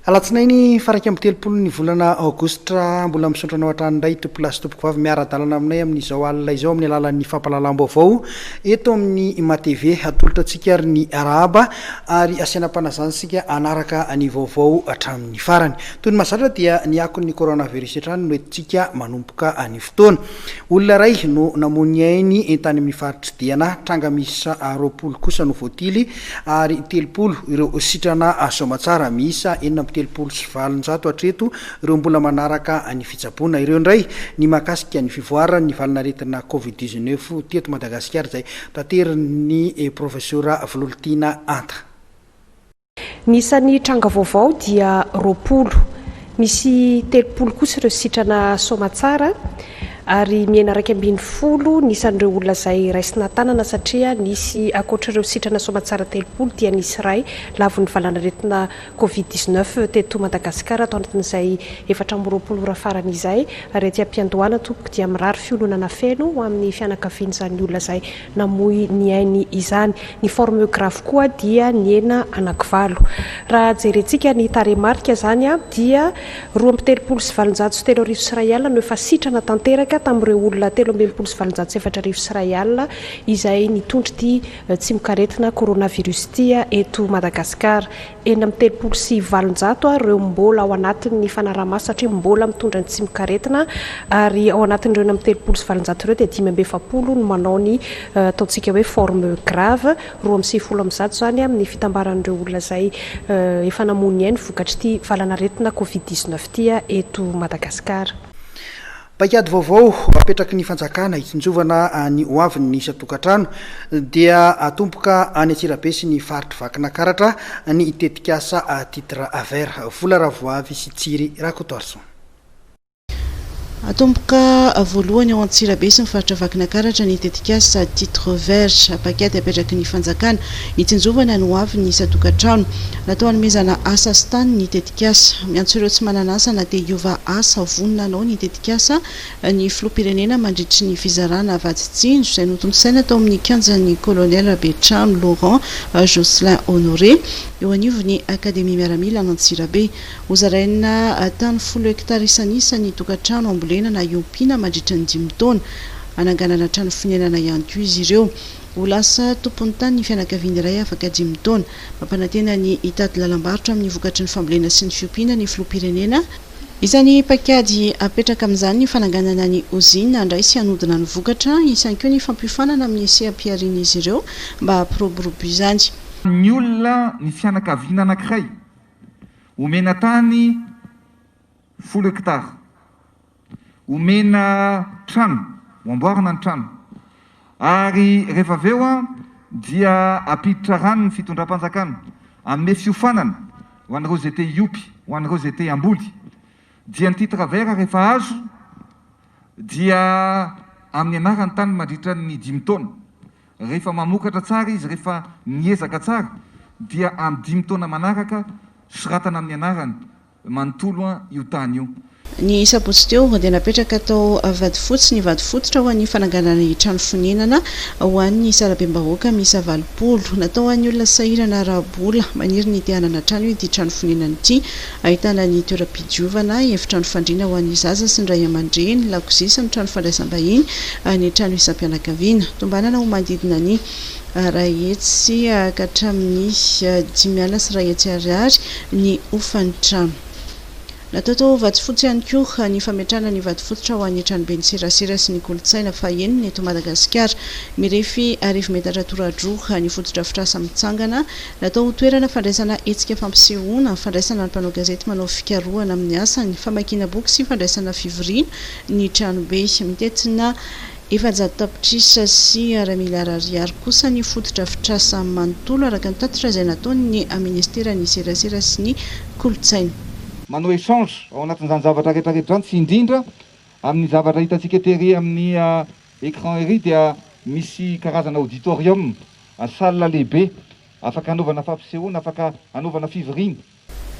alatsinainy faraika amby telopolo ny volana aogositra mbola misaotra anao hatrany indray tompolasy tompoko vavy miara-dalana aminay amin'izao alina izao amin'ny alalan'ny fampahalalam-baovao eto amin'ny imatv hatolotra antsika ary ny arahaba ary asiana am-panazana isika hanaraka ny vaovao hatramin'ny farany. Toy ny mahazatra dia ny akon'ny coronavirus hatrany no entintsika manomboka anio fotoana. Olona iray no namoy ny ainy tany amin'ny faritr'i Diana, tranga miisa roapolo kosa no voatily ary telopolo ireo sitrana soamatsara. Miisa enina amby telopolo sy valonjato hatreto ireo mbola manaraka ny fitsaboana. Ireo indray ny mahakasika ny fivoaran'ny valan'aretina covid dix-neuf teto Madagasikara izay Taterin' ny Profesora Vololtiana Anta. Ny isan'ny tranga vaovao dia roapolo. Misy telopolo kosa ireo sitrana soamatsara ary mihena iraika ambin'ny folo ny isan'ireo olona izay raisina tanana satria nisy ankoatr'ireo sitrana soamatsara telopolo dia nisy iray lavon'ny valanaretina Covid dix neuf teto Madagasikara tao anatin'izay efatra amby roapolo ora farany izay ary aty am-piandohana tompoko dia mirary fiononana feno ho amin'ny fianakavian'izany olona izay namoy ny ainy izany. Ny forme grave koa dia nihena anakivalo. Raha jerentsika ny tarehimarika izany dia roa amby telopolo sy valonjato sy telo arivo sy iray alina no efa sitrana tanteraka tamin'ireo olona telo amby enimpolo sy valonjato sy efatra arivo sy iray alina izay nitondra ity tsimokaretina coronavirus ity eto Madagasikara. Enina amby telopolo sy valonjato ary ireo mbola ao anatin'ny fanaraha-maso satria mbola mitondra ny tsimokaretina ary ao anatin'ireo enina amby telopolo sy valonjato ireo dia dimy amby efapolo no manao ny ataontsika hoe forme grave, roa amby sivifolo amby zato izany amin'ny fitambaran'ireo olona izay efa namoy ny ainy vokatr'ity valanaretina covid dix-neuf ity eto Madagasikara. Paikady vaovao apetraky ny fanjakana hitsinjovana ny hoavin'ny isan-tokantrano dia atomboka any Antsirabe sy ny faritry Vakinakaratra ny tetikasa Titre Vert. Vola Ravoavy sy Tsiry Rakotoarison. Atomboka voalohany ao Antsirabe sy ny faritra Vakinakaratra ny tetikasa Titre Vert, paikady apetraky ny fanjakana hitsinjovana ny hoavin'ny isan-tokantrano. Natao hanomezana asa sy tany ny tetikasa. Tetikasa, Miantso ireo tsy manana asa na dia hiova asa vonona hanao ny tetikasa ny Filoham-pirenena mandritry ny fizarana vatsy tsinjo izay notontosaina tao amin'ny kianjan'ny Colonel Betrano Laurent Jocelyn Honoré eo anivon'ny Akademia Miaramila an'Antsirabe. Hozaraina tany folo hektara isan'isa ny tokantrano hambolena na hiompiana mandritry ny dimy taona. Hananganana trano fonenana ihany koa izy ireo. Ho lasa tompon'ny tany ny fianakaviana iray afaka dimy taona. Mampanantena ny hitady lalam-barotra amin'ny vokatry ny fambolena sy ny fiompiana ny filoham-pirenena. Isan'ny paikady apetraka amin'izany ny fananganana ny ozina handray sy hanodina ny vokatra, hisy ihany koa ny fampiofanana amin'ny seha-piharian'izy ireo mba hampiroborobo izany. Ny olona ny fianakaviana anankiray omena tany folo hektara. Omena trano, ho amboarina ny trano, ary rehefa avy eo dia ampiditra rano ny fitondram-panjakana, hanome fiofanana ho an'ireo izay te hiompy, ho an'ireo izay te hamboly, dia ny titre vert rehefa azo dia amin'ny anarany tany mandritra ny dimy taona, rehefa mamokatra tsara izy, rehefa miezaka tsara dia amin'ny dimy taona manaraka soratana amin'ny anarany manontolo an io tany io. Ny sabotsy teo dia napetraka tao Vatofotsy ny vato fototra ho an'ny fananganana ny trano fonenana ho an'ny sarabem-bahoaka miisa valopolo. Natao ho an'ny olona sahirana ara-bola. Maniry ny te hanana trano ity trano fonenana ity. Ahitana ny toeram-pidiovana, efitrano fandriana ho an'ny zaza sy ny ray aman-dreny, lakozia sy ny trano fandraisam-bahiny, ny trano isam-pianakaviana. Tombanana ho manodidina ny. Arahitsy ka hatramin'ny dimy alina sy iray hetsy ariary ny hofan'ny trano. Natao tao Vatofotsy ihany koa ny fametrahana ny vato fototra ho an'ny tranoben'ny serasera sy ny kolontsaina fahenina eto Madagasikara. Mirefy arivo metatra toradroa ny fotodrafitrasa mitsangana, natao ho toerana fandraisana hetsika fampisehoana, fandraisana ny mpanao gazety manao fikarohana amin'ny asany, famakiana boky sy fandraisana fivoriana ny tranobe. Mitentina. Efajato tapitrisa sy iray miliara ariary kosa ny fotodrafitrasa manontolo, araka ny tatitra izay nataon'ny Minisiteran'ny Serasera sy ny Kolontsaina. Manao échange ao anatin'izany zavatra rehetra rehetra izany sy indrindra amin'ny zavatra hitantsika tery amin'ny écran ery dia misy karazana auditorium, salle lehibe afaka hanaovana fampisehoana, afaka hanaovana fivoriana.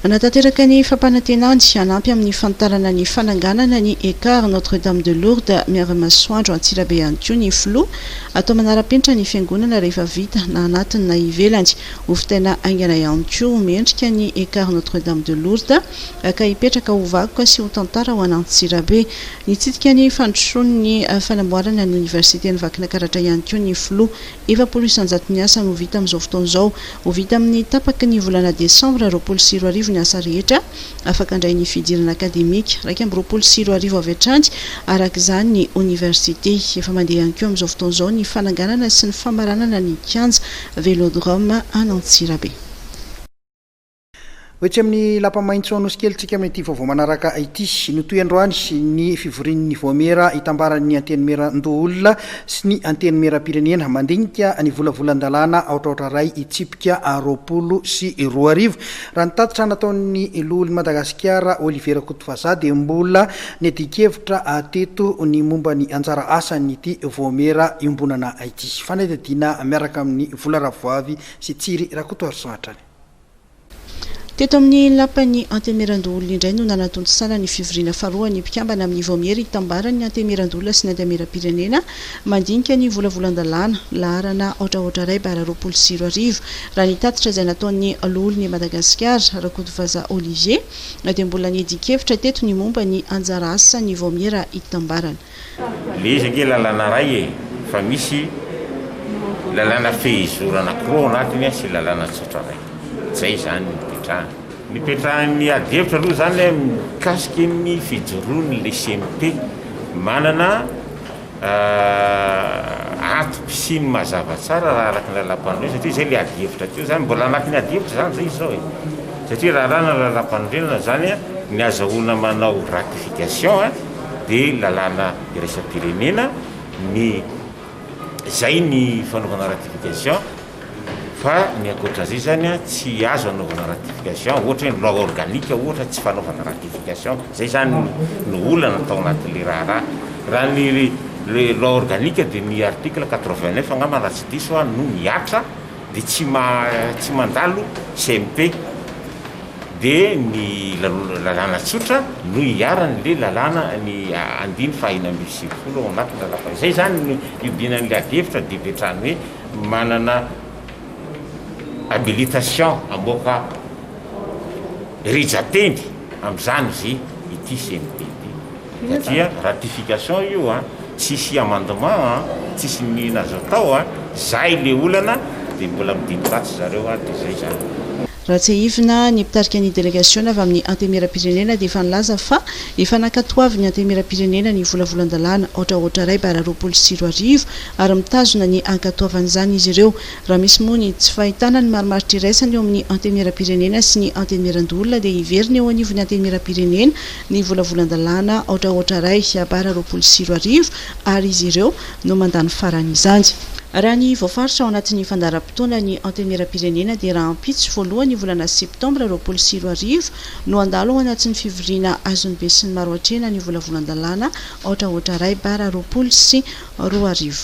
Hanatanteraka ny fampanantenany hanampy amin'ny fanitarana ny fananganana ny Ecart Notre Dame de Lourdes Miara-Masoandro Antsirabe ihany koa ny Filoha, atao manara-penitra ny Fiangonana rehefa vita na anatiny na ivelany. Hofitaina haingana ihany koa ho mendrika ny Ecart Notre Dame de Lourdes ka hipetraka ho vakoka sy ho tantara ho an'Antsirabe. Nitsidika ny fandrosoan'ny fanamboarana ny Oniversiten'i Vakinakaratra ihany koa ny Filoha. Efapolo isan-jaton'ny asa no ho vita amin'izao fotoana izao. Ho vita amin'ny tapaky ny volana desambra roapolo sy roa arivo ny asa rehetra, afaka handray ny fidirana akademika, iraika amby roapolo sy roa arivo avy hatrany, araka izany, ny oniversite. Efa mandeha ihany koa amin'izao fotoana izao ny fananganana sy ny famaranana ny kianja Vélodrome an'Antsirabe. Ho etsy amin'ny lapa maitso Anosikely tsika amin'ity vaovao manaraka ity. Notohy androany ny fivorian'ny Voamiera itambaran'ny Antenimierandoholona sy ny Antenimierampirenena mandinika ny volavolan-dalàna aotraotra iray hitsipika roapolo sy roa arivo. Raha ny tatitra nataon'ny Loholon'i Madagasikara Olivier Rakotovazaha dia mbola niadian-kevitra teto ny momba ny anjara asan'ity Voamiera iombonana ity. Fanadihadiana miaraka amin'i Vola Ravoavy sy Tsiry Rakotoarisoa hatrany. Teto amin'ny lapan'ny Antemerandoholona indray no nanatontosana ny fivoriana faharoa ny mpikambana amin'ny Vaomiera itambaran'ny Antemerandoholona sy ny Antenimierampirenena mandinika ny volavolan-dalàna, laharana aotraotra iray bara roapolo sy roa arivo. Raha ny tatitra izay nataon'ny Loholon' i Madagasikara, Rakotovaza Olivier, dia mbola niadian-kevitra teto ny momba ny anjara asan'ny Vaomiera itambarana. Le izy ange lalana ray e, fa misy lalana fehizorana ankiroa ao anatiny sy lalana tsotra ray. Zay zany ny nipetrahany. Nipetrahan'ny ady hevitra aloha zany mikasika ny fijoroan'ny le CMP. Manana antoko sy ny mazava tsara raha araka ny lalampanorenana satria zay le ady hevitra teo zany. Mbola anatin'ny ady hevitra zany zay izy zao e. Satria raharaha ny lalampanorenana zany ny azahoana manao ratification. dia lalàna iraisam-pirenena ny izay ny fanaovana ratification fa ny ankoatra izay izany tsy azo anaovana ratification ohatra hoe ny loi organique ohatra tsy fanaovana ratification izay izany no olana tao anatin'ilay raharaha raha ny loi organique dia ny article quatre vingt neuf angamba raha tsy diso aho no mihatra Dia tsy tsy mandalo CMP dia ny lalàna tsotra no iharany le lalàna ny andiny faha enina ambin'ny sivifolo ao anatin'ny lalàmpanorenana. Izay izany no iodinan'ilay adihevitra didy hatrany hoe manana habilitation hamoaka rija-teny amin'izany izy ity CNP ity. Satria ratification io a, tsisy amendement a, tsisy nini azo atao a, zay le olana de mbola midimby ratsy zareo a, de zay zany. Raha tsiahivina, ny mpitarika ny delegasiona avy amin'ny Antenimierampirenena dia efa nilaza fa efa nankatoavin'ny Antenimierampirenena ny volavolan-dalàna haotrahaotra iray bara roapolo sy roa arivo ary mitazona ny hankatoavan'izany izy ireo raha misy moa ny tsy fahitana ny marimaritra iraisana eo amin'ny Antenimierampirenena sy ny Antenimierandoholona dia hiverina eo anivon'ny Antenimierampirenena ny volavolan-dalàna aotrahoatra ray bara roapolo sy roa arivo ary izy ireo no mandà ny faran'izany. Raha ny voafaritra ao anatin'ny fandaharam-potoanan'ny Antenimierampirenena dia rahampitso voalohan'ny volana septambra roapolo sy roa arivo no handalo ao anatin'ny fivoriana azon'ny besinimaro hatrehina ny volavolan-dalàna aotrahoatra ray bara roapolo sy roa arivo.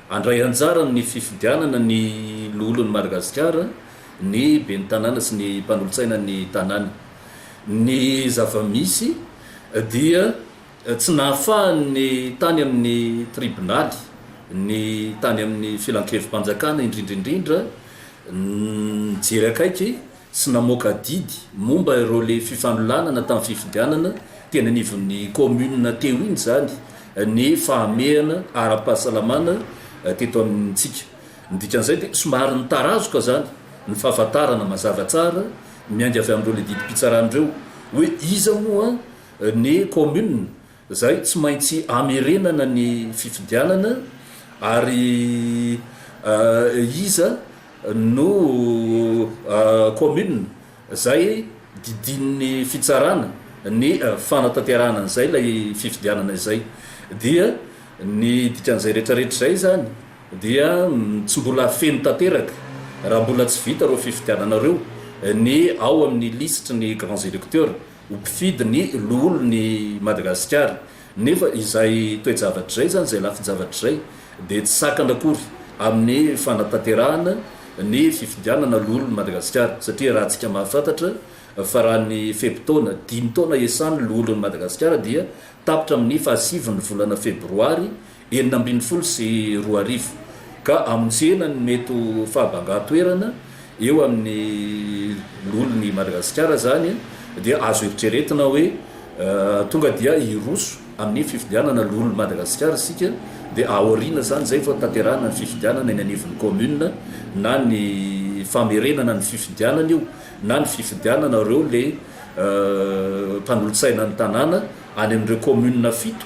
Handray anjara amin'ny fifidianana ny loholon'i Madagasikara ny ben'ny tanàna sy ny mpanolotsainan'ny tanàna. Ny zava-misy dia tsy nahafahan'ny tany amin'ny tribonaly, ny tany amin'ny filankevi-panjakana indrindra indrindra nijery akaiky sy namoaka didy momba ireo le fifanolanana tamin'ny fifidianana teny anivon'ny kaominina teo iny izany ny fahamehana ara-pahasalamana teto amintsika. Ny dikan'izay dia somary nitarazoka izany ny fahafantarana mazava tsara miainga avy amin'ireo le didim-pitsarana ireo hoe iza moa ny kaominina Izay tsy maintsy hamerenana ny fifidianana ary iza no commune izay didian'ny fitsarana ny fanatanterahana an'izay ilay fifidianana izay dia ny dikan'izay retraretra izay izany dia tsy mbola feno tanteraka raha mbola tsy vita ireo fifidianana ireo ny ao amin'ny lisitry ny grands electeurs. ho mpifidy ny loholon' i Madagasikara, nefa izay toe-javatra izay izany, izay lafin-javatra izay dia tsy sakana akory amin' ny fanatanterahana ny fifidianana loholon' i Madagasikara, satria raha antsika mahafantatra fa raha ny fe-potoana dimy taona iasan' ny loholon' i Madagasikara dia tapitra amin' ny fahasivin' ny volana febroary enina ambin'ny folo sy roa arivo, ka hamonjena ny mety ho fahabangan-toerana eo amin'ny loholon' i Madagasikara izany, dia azo eritreretina hoe tonga dia hiroso amin'ny fifidianana loholon'i Madagasikara isika, dia aoriana izany izay vao tanterahina ny fifidianana eny anivon'ny kaominina, na ny famerenana ny fifidianana io, na ny fifidianana ireo le mpanolotsaina ny tanàna any amin'ireo kaominina fito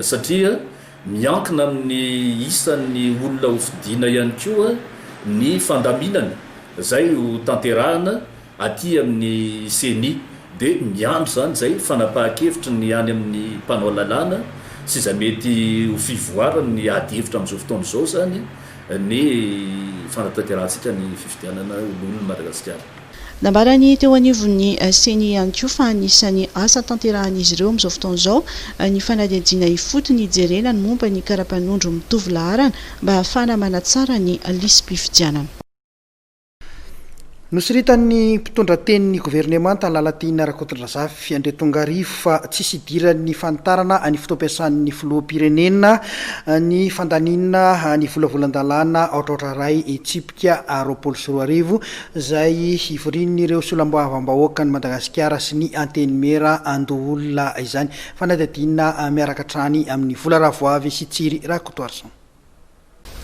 satria miankina amin'ny isan'ny olona hofidiana ihany koa ny fandaminana izay ho tanterahana aty amin'ny Ceni dia miandry izany izay fanapahan-kevitry ny any amin'ny mpanao lalàna sy izay mety ho fivoarany ny ady hevitra amin'izao fotoana izao izany ny fanatanterahantsikany fifidianana ho lohan'ny Madagasikara. Nambarany teo anivon'ny Ceni ihany koa fa anisan'ny asa tanterahan'izy ireo amin'izao fotoana izao ny fanadihadiana ifotony hijerena ny momba ny karapanondro mitovy laharana mba ahafahana manatsara ny lisi-pifidianana. Nosoritan'ny mpitondra tenin'ny governemanta Lalatiana Rakotondrazafy Andry Tongarivo fa tsisy hidiran'ny fanitarana ny fotoam-piasan'ny filoham-pirenena ny fandaniana ny volavolan-dalàna aotraotra iray hetsy. Ka a roapolo sy roa arivo, izay hivorian'ireo Solaboavam-bahoakan'i Madagasikara sy ny Antenimiera an-doholona izany. Fanadihadiana miaraka hatrany amin'i Vola Ravoavy sy Tsiry Rakotoarison.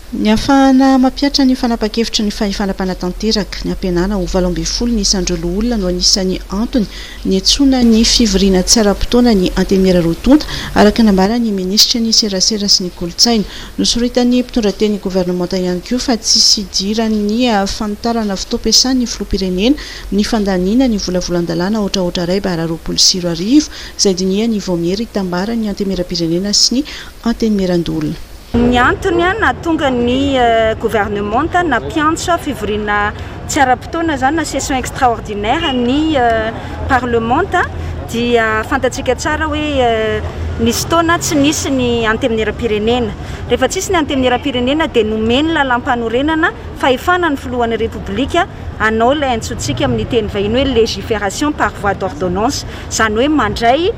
Ny hahafahana mampihatra ny fanapa-kevitry ny fahefana mpanatanteraka, ny hampihenana ho valo ambin'ny folo ny isan'ireo loholona no anisan'ny antony Niantsoana ny fivoriana tsy ara-potoana ny Antemira roa tonta, araka ny nambaran'ny minisitry ny Serasera sy ny kolontsaina. Nosoritan'ny mpitondra teny governemanta ihany koa fa tsy sidiran'ny fanitarana fotoam-piasan'ny filoham-pirenena ny fandaniana ny volavolan-dalàna aotraotra iray bara roapolo sy roa arivo izay dinihany vao miery hitambaran'ny Antemira-pirenena sy ny Antenimiran-doholona. Ny antony nahatonga ny governemanta nampiantsa fivoriana tsy ara-potoana izany na session extraordinaire ny parlemanta dia fantatsika tsara hoe nisy fotoana tsy nisy ny antenimieram-pirenena. Rehefa tsy nisy ny antenimieram-pirenena dia nomen'ny lalàmpanorenana fahefana ny filohan'ny Repoblika hanao ilay antsointsika amin'ny teny vahiny hoe légiferation par voie d'ordonnance, izany hoe mandray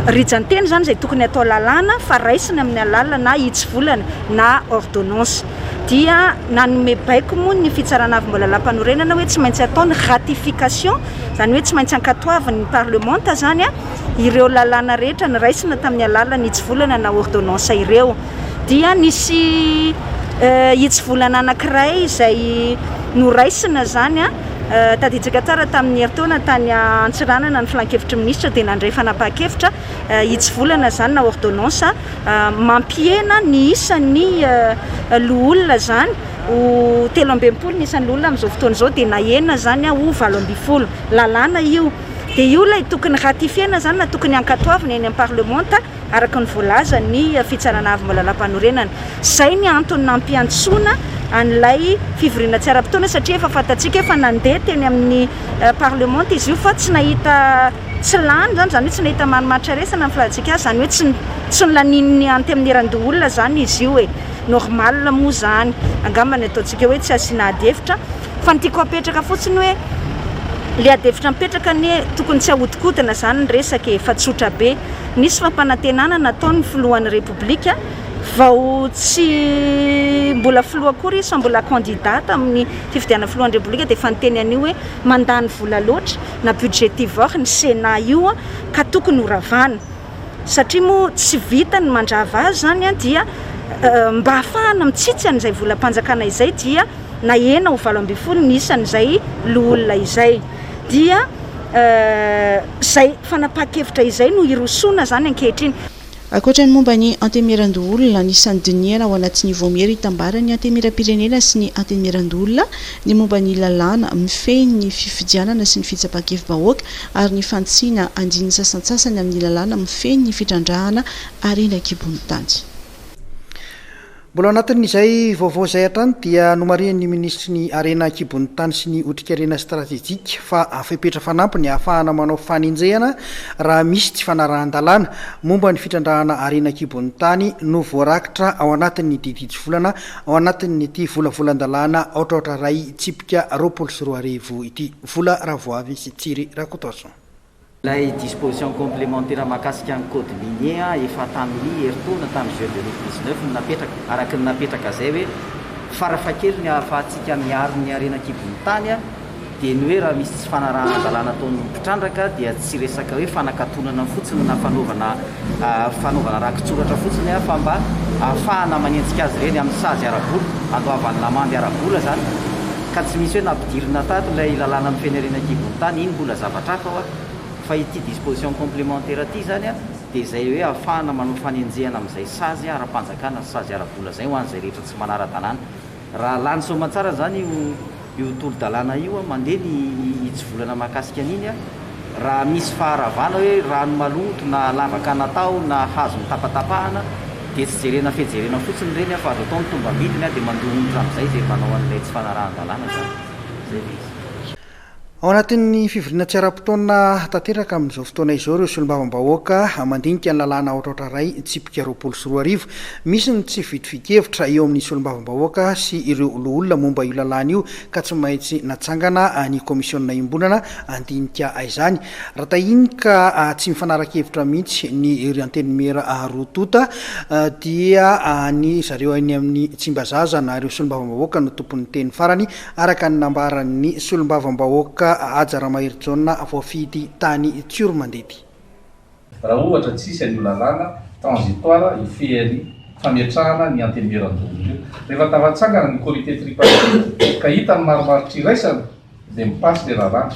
Rijan-teny izany izay tokony atao lalàna fa raisina amin'ny alalana na hitsivolana na ordonnance. Dia nanome baiko moa ny Fitsarana Avo Ambohilalampanorenana hoe tsy maintsy atao ny ratification, izany hoe tsy maintsy ankatoavin'ny parlemanta izany ireo lalàna rehetra noraisina tamin'ny alalan'ny hitsivolana na ordonnance ireo. Dia nisy hitsivolana anankiray izay noraisina izany. Tadidintsika tsara tamin'ny herintaona tany Antsiranana ny Filankevitry ny Minisitra dia nandray fanapahan-kevitra hitsivolana izany na ordonnance mampihena ny isan'ny loholona izany ho telo ambin'ny folo ny isan'ny loholona amin'izao fotoana izao dia nahena izany ho valo ambin'ny folo. Lalàna io dia io ilay tokony ratifiena izany na tokony hankatoavina eny amin'ny parlemanta. araka ny voalazan' ny Fitsarana Avo mba Lalampanorenana. Izay ny antony nampiantsoana an' ilay fivoriana tsy ara-potoana satria efa fantatsika fa nandeha teny amin' ny parlemanta izy io fa tsy nahita tsy lany izany, izany hoe tsy nahita marimaritra resana ny filaza-tsika azy, izany hoe tsy tsy nolanin' ny Antemnierandoholona izany izy io e, normal moa izany, angamba ny ataontsika hoe tsy asiana ady hevitra. Fa ny tiako apetraka fotsiny hoe le adihevitra mipetraka anie tokony tsy ahodikodina zany ny resaka e, fa tsotra be. Nisy fampanantenana nataon'ny filohan'ny Repoblika vao tsy mbola filoha akory izy fa mbola candidat tamin'ny fifidianana filohan'ny Repoblika dia efa niteny an'io hoe mandany vola loatra na budgetivore ny Sénat io ka tokony ho ravana. satria moa tsy vita ny mandrava azy izany dia mba hahafahana mitsitsy an'izay volam-panjakana izay dia nahena ho valo ambin'ny folo ny isan'izay loholona izay dia izay fanapahan-kevitra izay no hirosoana izany ankehitriny. Ankoatra ny momba ny Antenimierandoholona, anisan'ny dinihana ao anatin'ny Vaomiera hitambara ny Antenimieram-pirenena sy ny Antenimierandoholona ny momba ny lalàna mifehy ny fifidianana sy ny fitsapan-kevi-bahoaka ary ny fanitsiana andininy sasantsasany amin'ny lalàna mifehy ny fitrandrahana harena an-kibon'ny tany. Mbola ao anatin'izay vaovao izay hatrany dia nomarihin'ny minisitry ny Harena an-kibon'ny tany sy ny otrikarena stratejika fa fepetra fanampy ny hahafahana manao fanenjehana raha misy tsy fanarahan-dalàna momba ny fitrandrahana harena an-kibon'ny tany no voarakitra ao anatin'ny didy hitsivolana Ao anatin'ity volavolan-dalàna aotraotra iray tsipika roapolo sy roa arivo ity, vola Ravoavy sy Tsiry Rakotoson. Ilay disposition complémentaire mahakasika ny code minier efa tamin'ny herintaona tamin'ny juin deux mille dix-neuf no napetraka, araka ny napetraka izay hoe, farafahakeliny ahafahantsika miaro ny harena an-kibon'ny tany, dia ny hoe raha misy tsy fanarahan-dalàna ataon'ny mpitrandraka dia tsy resaka hoe fanakatonana fotsiny na fanaovana fanaovana rakitsoratra fotsiny aho fa mba ahafahana manenjika azy ireny amin'ny sazy ara-bola, handoavan'ny lamandy ara-bola izany ka tsy misy hoe nampidirina tato ilay lalàna mifehy ny harena an-kibon'ny tany, iny mbola zavatra hafa hoa fa ity disposition complémentaire ity izany dia izay hoe ahafahana manao fanenjehana amin'izay sazy ara-panjakana sy sazy ara-bola izay ho an'izay rehetra tsy manara-dalàna. Raha lany soamantsara zany io io tolo dalàna io an, mandeha ny hitsivolana mahakasika an'iny an, raha misy faharavana hoe rano maloto na lavaka natao na hazo notapatapahana dia tsy jerena fe jerena fotsiny ireny an fa azo atao ny tombambidiny an dia mandoa onitra amizay izay manao an'ilay tsy fanarahan-dalàna zany. Zay le izy. Ao anatin'ny fivoriana tsy ara-potoana tanteraka amin'izao fotoana izao ireo solombavambahoaka mandinika ny lalàna aotraotra iray tsipika roapolo sy roa arivo. Misy ny tsy fitovian-kevitra eo amin'ny solombavambahoaka sy ireo loholona momba io lalàna io ka tsy maintsy natsangana ny kaomisiona iombonana handinika izany. Raha tahiny ka tsy mifanaraka hevitra mihitsy ny ry Antenimiera roa tonta dia ny zareo any amin'ny Tsimbazaza na ireo solombavambahoaka no tompon'ny teny farany Araka ny nambaran'ny solombavambahoaka Haja Ramaherijaona voafidy tany Tsioromandedy. Raha ohatra tsisy an'io lalàna transitoire io fery fametrahana ny antenimieran-doza io, rehefa tafatsangana ny comité tripartite ka hita ny marimaritra iraisana dia mi-passe le lalàna.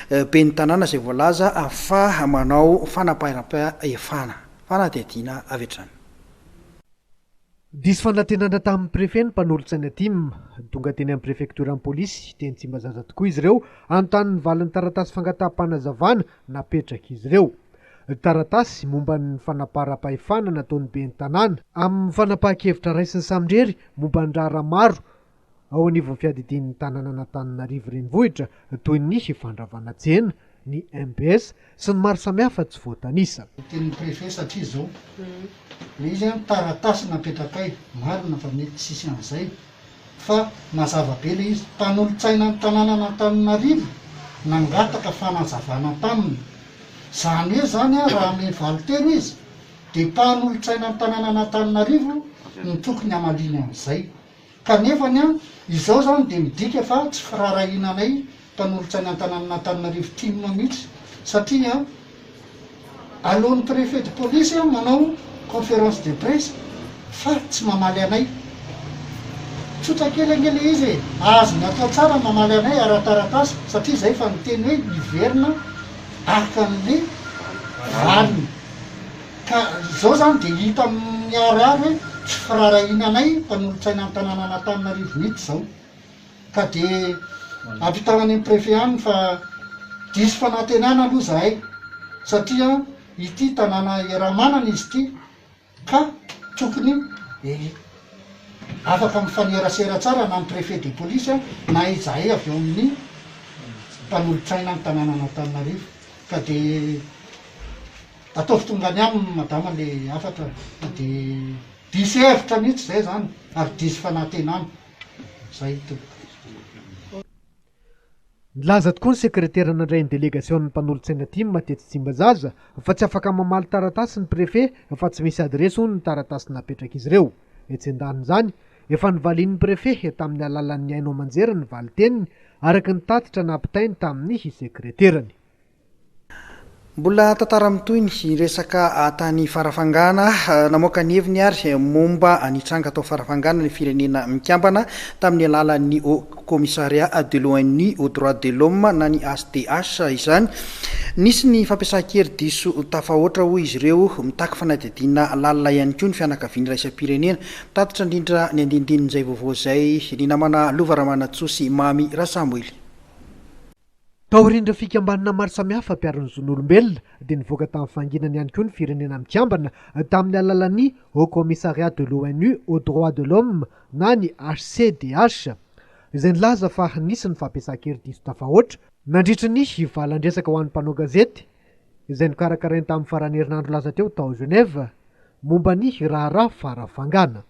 Ben'ny tanàna izay voalaza fa manao fanaparam-pahefana fa na dia adina avy hatrany. Diso fanantenana tamin'ny Prefe ny mpanolotsaina tim. Tonga teny amin'ny Prefektioran'ny Polisy, teny Tsimbazaza tokoa izy ireo hanontany ny valin'ny taratasy fangataham-panazavana napetrak'izy ireo. Taratasy momba ny fanaparam-pahefana nataon'ny ben'ny tanàna. Amin'ny fanapahan-kevitra raisin'ny samirery momba ny raharaha maro Ao anivon'ny fiadidian'ny tanànan'Antananarivo Renivohitra toy ny Fandravanajena, ny mbs sy ny maro samihafa tsy voatanisa. Ny tenin'ny préfet satria izao, ilay izy an, taratasy napetrakay, marina fa mety tsy hisy an'izay fa mazava be ilay izy, mpanolotsainan'ny tanànan'Antananarivo nangataka fanazavana taminy, izany hoe izany an raha ame valiteny izy dia mpanolotsainan'ny tanànan'Antananarivo no tokony hamaliany an'izay. Kanefa ny an, izao izany dia midika fa tsy firaharahiana anay mpanolotra ny antananan'Antananarivo tim mihitsy satria an, aleon'ny préfet de police an manao conférence de presse fa tsy mamaly anay. Tsotra kely ange ilay izy e! Azony atao tsara ny mamaly anay ara-taratasy satria izay efa niteny hoe hiverina araka an'le valiny. Ka izao izany dia hita miharihary hoe tsy firaharahiana anay mpanolotsainan'ny tanànan'Antananarivo mihitsy izao. Ka dia ampitao any amin'ny Préfet any fa diso fanantenana aloha izahay satria ity tanàna iaraha-manana izy ity ka tokony afaka mifanerasera tsara na ny Préfet de police na izahay avy ao amin'ny mpanolotsainan'ny tanànan'Antananarivo. Ka dia. Ataovy tonga any aminy madama le hafatra fa de diso hevitra mihitsy zay zany ary diso fanatenana. Zay tompoko. Nilaza tokoa ny sekretera nandray ny delegasion'ny mpanolotsaina tim tetsy Tsimbazaza fa tsy afaka mamaly taratasy ny prefe fa tsy misy adiresy hono ny taratasy napetrak'izy ireo. Etsy an-danin'izany, efa novalian'ny prefe tamin'ny alalan'ny haino aman-jery ny valin-teniny, araka ny tatitra nampitainy tamin'ny sekreterany. Mbola tantara mitohy ny resaka tany Farafangana. Namoaka ny heviny ary momba ny tranga tao Farafangana ny Firenena Mikambana tamin'ny alalan'ny Haut Commissariat de l'ONU aux droits de l'homme na ny HDH izany. Nisy ny fampiasan-kery diso tafahoatra hoy izy ireo. Mitaky fanadihadiana lalina ihany koa ny fianakaviana iraisam-pirenena. Mitatitra indrindra ny andinindin'izay vaovao izay ny namana Lova Ramanantsoa sy Mamy Rasamboely. Taorian'ireo fikambanana maro samihafa mpiaro ny zon'olombelona dia nivoaka tamin'ny fahanginany ihany koa ny Firenena Mikambana tamin'ny alalan'ny Haut Commissariat de l'ONU aux Droits de l'Homme na ny HCDH, izay nilaza fa nisy ny fampiasan-kery diso tafahoatra, nandritry ny valan-dresaka ho an'ny mpanao gazety izay nokarakarainy tamin'ny faran'ny herinandro lasa teo tao Genève, momba ny raharaha farafangana.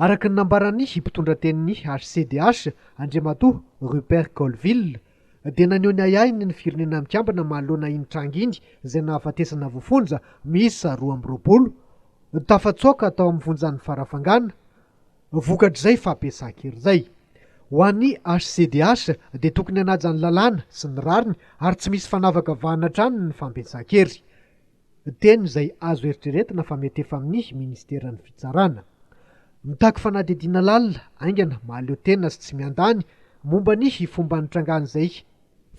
Araka ny nambaran'ny mpitondratenin'ny HCDH, Andriamatoa Rupert Colville, dia naneho ny ahiahiny ny Firenena Mikambana manoloana iny tranga iny izay nahafatesana voafonja miisa roa amby roapolo tafatsoaka tao amin'ny fonjan'i Farafangana vokatr'izay fampiasan-kery izay. Ho an'ny HCDH dia tokony hanaja ny lalàna sy ny rariny ary tsy misy fanavakavahana hatrany ny fampiasan-kery. Teny izay azo eritreretina fa mety efa mihi Ministeran'ny Fitsarana. Mitaky fanadihadiana lalina, haingana, mahaleo tena sy tsy miandany momba ny hi fomba nitrangan'izay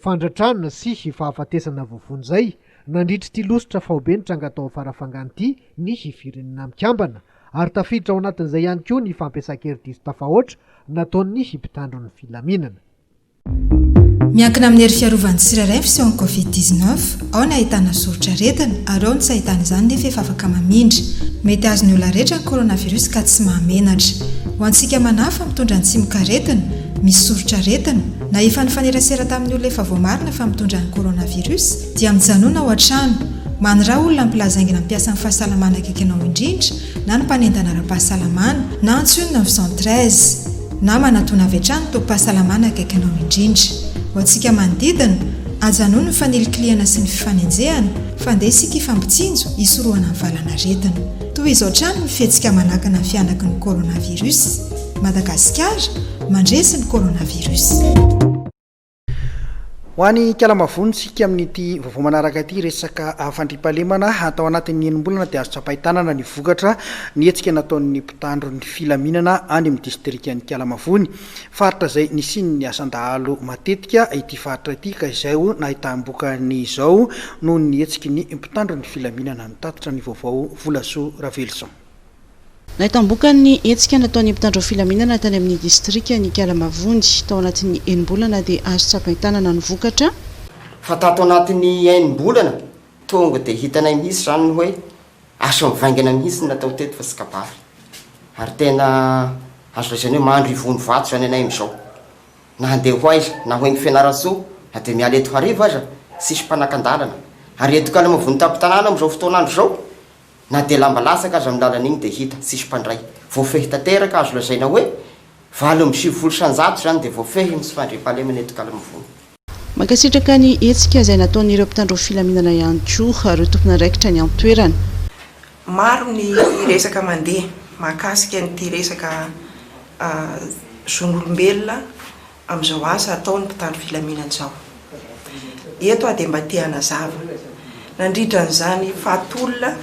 fandratrana sy hi fahafatesana voavono izay nandritr'ity losotra faobe nitranga tao Farafangana ity ny hi Firenena Mikambana ary tafiditra ao anatin'izay ihany koa ny fampiasan-kery diso tafahoatra nataon'ny hi mpitandro ny filaminana. Miankina amin'ny hery fiarovan'ny tsirairay ny fisehon'ny Covid dix neuf. Ao ny ahitana soritr'aretina, ary ao ny tsy ahitana izany nefa efa afaka mamindra. Mety azon'ny olona rehetra ny coronavirus ka tsy mahamenatra. Ho antsika manahy fa mitondra ny tsimokaretina, misy soritr'aretina, na efa nifanerasera tamin'ny olona efa voamarina fa mitondra ny coronavirus, dia mijanona ao an-trano. Maniraha olona ampilazaingina mpiasan'ny fahasalamana akaiky anao indrindra, na ny mpanendana ara-pahasalamana, na antsoy ny neuf cent treize. Namana tony avy hatrany tobim-pahasalamana akaikinao indrindra. Ho antsika manodidina, ajanony ny fanilikilihana sy ny fifanenjehana, fa ndeha isika hifampitsinjo hisorohana ny valan'aretina. Toy izao hatrany ny fihetsika manakana ny fihanaky ny coronavirus. Madagasikara, mandresy ny coronavirus. Ho any Ikalambavony isika amin'ity vaovao manaraka ity, resaka fandriampahalemana. Tao anatin'ny enim-bolana dia azo tsapain-tanana ny vokatra ny hetsika nataon'ny mpitandro ny filaminana any amin'ny distrikan'Ikalamavony. Faritra izay nisian'ny asan-dahalo matetika ity faritra ity ka izay nahitam-bokany izao noho ny hetsiky ny mpitandro ny filaminana. Nitatitra ny vaovao Volasoa Ravelison. Nahitambokany ny hetsika nataon'ny mpitandro filaminana tany amin'ny distrikan' Ikala Mavondy. Tao anatin'ny enim-bolana dia azo tsapain-tanana ny vokatra. Fa tato anatin'ny enim-bolana, tonga dia hitanay mihitsy izany ny hoe asa mivaingana mihitsy no natao teto fa tsy kabary. Ary tena azo lazaina hoe mandry ivony vato izany ianay amin'izao. Na handeha ho aiza, na ho eny Fianarantsoa, na dia miala eto hariva aza, tsisy mpanakan-dalana. Ary eto Ikala Mavondy tampon-tanàna amin'izao fotoan'andro izao, Na dia lamba latsaka aza ny lalana iny dia hita, tsisy mpandray. Voafehy tanteraka, azo lazaina hoe valo amby sivifolo isan-jato izany dia voafehy ny tsy fandriampahalemana eto Kalamivony. Mankasitraka ny hetsika izay nataon'ireo mpitandro filaminana ihany koa ireo tompon'andraikitra any an-toerana. Maro ny resaka mandeha mahakasika an'ity resaka zon'olombelona. amin'izao asa ataon'ny mpitandro filaminana izao. Eto aho dia mba te hanazava, nandritra an'izany fahatolona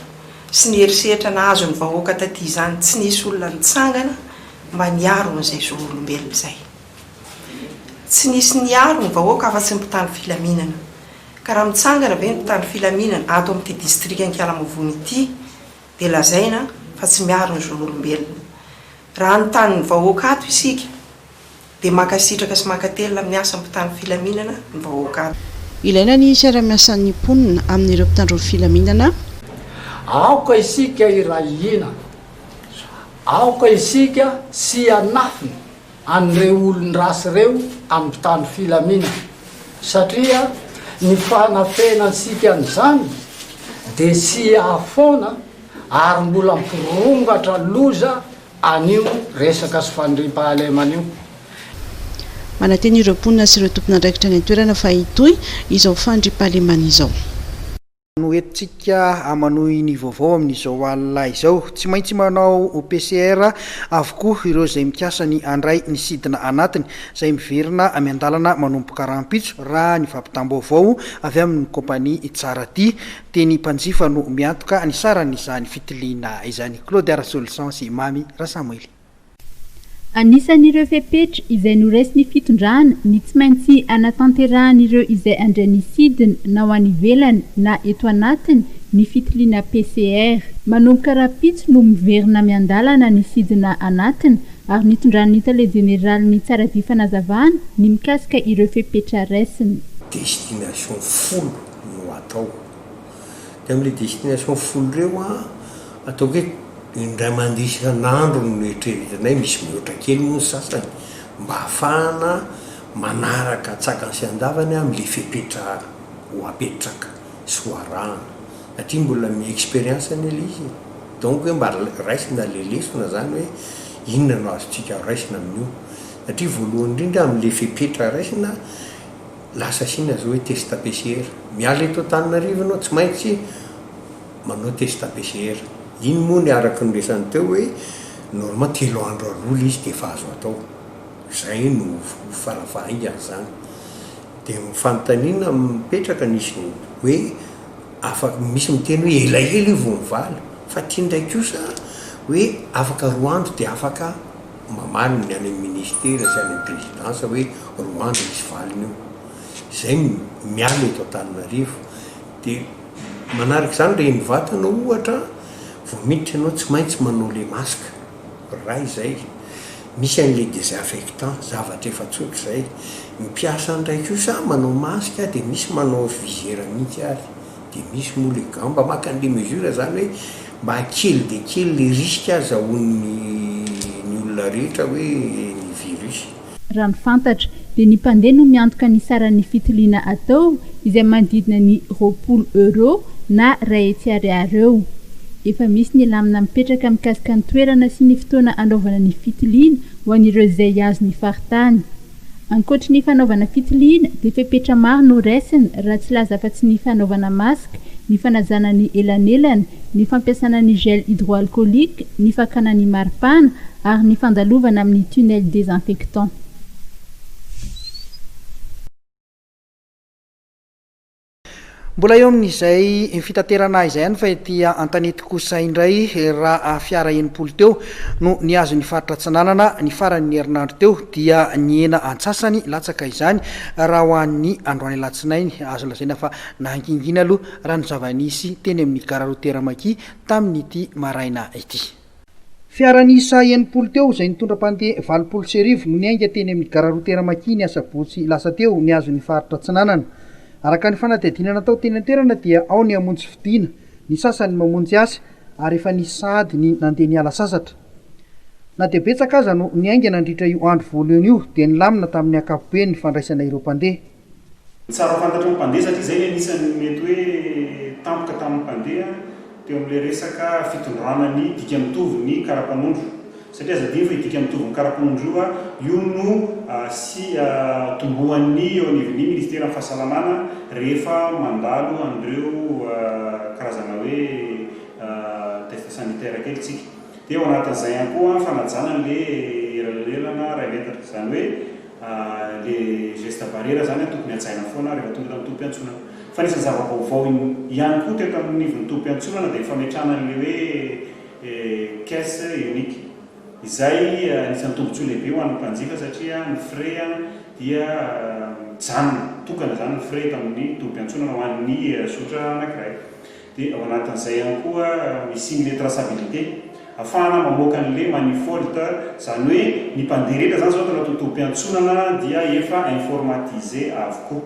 sy ny herisetra nahazo ny vahoaka taty izany tsy nisy olona nitsangana mba niaro an'izay zoolombelona izay. Tsy nisy niaro ny vahoaka afa-tsy ny mpitandro filaminana. Ka raha mitsangana ve ny mpitandro filaminana ato amin'ity distrikan'Inkalamovono ity dia lazaina fa tsy miaro ny zon'olombelona. Raha hanontany ny vahoaka ato isika, Dia mankasitraka sy mankatelina amin'ny asa mpitandro filaminana ny vahoaka. Ilaina ny fiarahamiasan'ny mponina amin'ireo mpitandro ny filaminana. Aoka isika hiray hina. Aoka isika tsy hianafina an'ireo olon-dratsy ireo amin'ny mpitandro filaminana, satria ny fanafenantsika an'izany dia tsy hiaha foana ary mbola hampirongatra loza an'io resaka sy fandriampahalemana io. Manantena ireo mponina sy ireo tompon'andraikitra any an-toerana fa hitohy izao fandriampahalemana izao. No entintsika manohy ny vaovao amin'izao alina izao. Tsy maintsy manao PCR avokoa ireo izay mikasa ny handray ny sidina anatiny, izay miverina miandalana manomboka rahampitso, raha ny fampitam-baovao avy amin'ny kaompania Tsaratia. Teny mpanjifa no miantoka ny saran'izany fitiliana izany, Claude Arasoloson sy Mamy Rasamwely. Anisan'ireo fepetra izay noraisin'ny fitondrana ny tsy maintsy anatanterahan'ireo izay handray ny sidina na ho any ivelany na eto anatiny ny fitiliana PCR. Manomboka rahampitso no miverina miandalana ny sidina anatiny ary nitondran'ny tale jeneralin'ny Tsaradia fanazavana ny mikasika ireo fepetra raisiny. Destination folo no atao. Dia amin'ireo destinations folo ireo an, ataoko hoe indray mandeha isan'andro no eritreretinay, misy mihoatra kely moa ny sasany, mba hahafahana manaraka an-tsakany sy an-davany amin'ilay fepetra ho apetraka sy ho arahana. Satria mbola mi-expérience anie ilay izy e! Donc hoe mba raisina ilay lesona izany hoe inona no azontsika raisina amin'io. Satria voalohany indrindra amin'ilay fepetra raisina, Lasa Sina zao hoe test PCR. Miala eto Antananarivo ianao tsy maintsy manao test PCR. Iny moa ny araka ny resany teo hoe normal telo andro aloha le izy de efa azo atao. Zay no fara fahaingany zany. De ny fanontaniana mipetraka nisy hoe afaka misy miteny hoe elaela io vao mivaly fa ty ndray kosa hoe afaka roa andro de afaka. Mamaly ny any amin'ny ministera sy any amin'ny prezidansa hoe roa andro misy valiny io. Izay no miala eto Antananarivo. Dia manaraka izany reny vatana ohatra vao miditra ianao tsy maintsy manao ilay masque. Ray izay. Misy an'ilay desinfectant, zavatra efa tsotra izay. Ny mpiasa any indray kosa manao masque dia misy manao visière mihitsy ary. Dia misy moa le gamba maka an'le mesure zany hoe mba kely dia kely le risque azahoan'ny ny olona rehetra hoe ny virus. Raha ny fantatra, dia ny mpandeha no miantoka ny saran'ny fitiliana atao izay manodidina ny roapolo euros na iray hetsy ariary eo. Efa misy ny lamina mipetraka mikasika ny toerana sy ny fotoana anaovana ny fitiliana ho an'ireo izay azo ny faritany. Ankoatry ny fanaovana fitiliana dia fepetra maro no raisiny raha tsy laza afa-tsy ny fanaovana masque, ny fanajana ny elanelana, ny fampiasana ny gel hydroalcoolique, ny fakana ny maripana ary ny fandalovana amin'ny tunnel désinfectant. Mbola eo amin'izay fitaterana ahy izay ihany fa ety Antanety kosa indray raha fiara enimpolo teo no nihazo ny faritra Atsinanana ny faran'ny herinandro teo dia nihena antsasany latsaka izany raha ho an'ny androany alatsinainy. Azo lazaina fa nahangingina aloha raha ny zava-nisy teny amin'ny gara routier Makia tamin'ity maraina ity. Fiara niisa enimpolo teo izay nitondra mpandeha valopolo sy arivo no niainga teny amin'ny Gare routière Maki ny asabotsy lasa teo nihazo ny faritra Atsinanana. Araka ny fanadihadiana natao teny an-toerana dia ao ny hamonjy fidiana, ny sasany mamonjy asa ary efa nisy sahady ny nandeha niala sasatra. Na dia betsaka aza no niainga nandritra io andro voalohany io dia nilamina tamin'ny ankapobeny ny fandraisana ireo mpandeha. Tsara fantatry ny mpandeha satria izay ny anisan'ny mety hoe tampoka tamin'ny mpandeha teo amin'ilay resaka fitondrana ny dika mitovy ny karapanondro. Satria aza adino fa io dika mitovy ny karapanondro io, io no tombohan'ny eo anivon'ny Ministeran'ny Fahasalamana rehefa mandalo an'ireo karazana hoe test sanitaire kely isika. Dia ao anatin'izay ihany koa ny fanajana an'ilay elalelana iray metatra. Izany hoe. Le geste barrière zany tokony hajaina foana rehefa tonga eto amin'ny tobim-piantsonana. Fa anisan'ny zava-baovao ihany koa teto anivon'ny tobim-piantsonana dia ny fametrahana an'ilay hoe caisse unique. Izay anisan'ny tombotsoa lehibe ho an'ny mpanjifa satria ny frais dia mijanona, tokana izany ny frais eto amin'ny tobim-piantsonana ho an'ny zotra anankiray. Dia ao anatin'izay ihany koa ny signe de traçabilité afahana mamoaka ny le manifold, izany hoe ny mpandeha rehetra izany izao ato anaty tobim-piantsonana dia efa informatisé avokoa.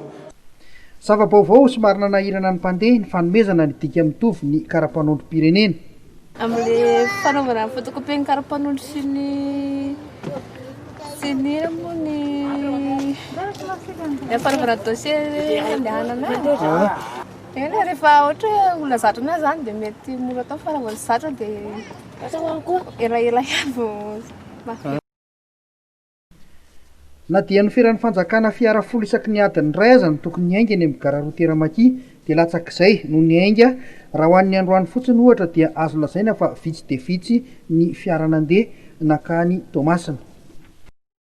Zava-baovao somary nanahirana ny mpandeha ny fanomezana ny dika mitovy ny karapanondrom-pirenena. Amin'ilay fanaovana ny photocopier-n'ny karapanondro sy ny sy ny inona moa ny ilay fanaovana dossier hoe handehanana any. Eny rehefa ohatra hoe olona zatra an'ahy zany dia mety mora atao fa raha vao tsy zatra dia elaela ihany vao mahafehy. Na dia noferan'ny fanjakana fiara folo isaky ny adiny iray aza ny tokony hiainga eny amin'ny gara roa Teramaky dia latsak'izay no niainga. Raha ho an'ny androany fotsiny ohatra dia azo lazaina fa vitsy dia vitsy ny fiara nandeha nankany Toamasina.